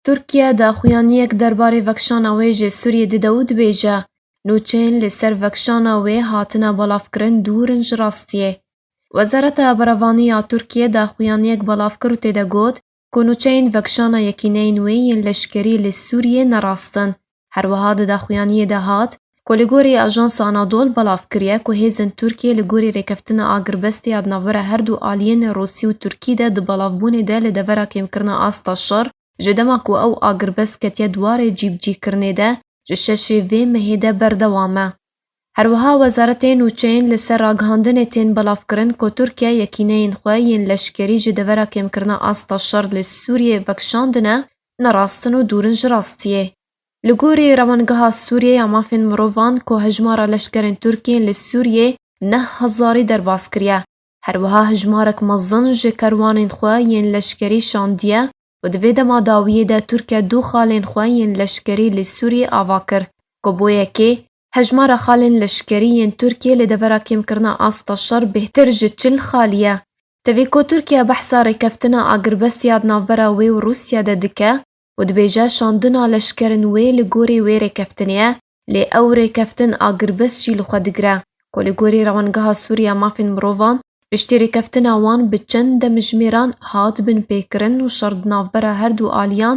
Tirkiye daxuyaniyek derbarê vekişana wê ji Sûriyê dide û dibêje, Nûçeyên li ser vekişana wê hatine belavkirin dûr in ji rastiyê. Wezareta Berevanî ya Tirkiyê daxuyaniyek belav kir û tê de got ku nûçeyên vekişana yekîneyên wê yên leşkerî li Sûriyê ne rast in. Her wiha di daxuyaniyê de hat ku li gorî Ajansa Anadol belav kiriye ku hêzên Tirkiyê li gorî rêkeftina agirbestê ya di navbera her du aliyên Rûsî û Tirkî de di belavbûnê de li devera kêmkirina asta şer ji dema ku ew agirbest ketiye dwarê cîbicîkirinê de ji şeşê vê mehê de berdewam e. Her wiha wezaretê nûçeyên li ser ragihandinê tên belavkirin ku Tirkiye yekîneyên xwe yên leşkerî ji devera kêmkirina asta şer li Sûriyê vekişandine ne rastin û dûr in ji rastiyê. Li gorî Rewangeha Sûriyê ya Mafên Mirovan ku hejmara leşkerên Tirk yên li Sûriyê neh hezarî derbas kiriye, her wiha hejmarek mezin ji kerwanên xwe yên leşkerî şandiye û di vê dema dawiyê de Tirke du xalên xwe yên leşkerî li Sûriyê ava kir ku bo yekê Hejmara xalên leşkerî yên Tirkiyê li devera kêmkirina asta şer bêhtir ji çil xalî ye. Tevî ku Tirkiye behsa rêkeftina agirbestîya di navbera wê û Rûsya de dike û dibêje şandina leşkerên wê li gorî wê rêkeftinê ye, lê ew rêkeftin agirbest jî li xwe digire ku li gorî Rewangeha Sûriya Mafên Mirovan piştî rêkeftina wan bi çend demjimêran hat binpêkirin û şer di navbera herdu aliyan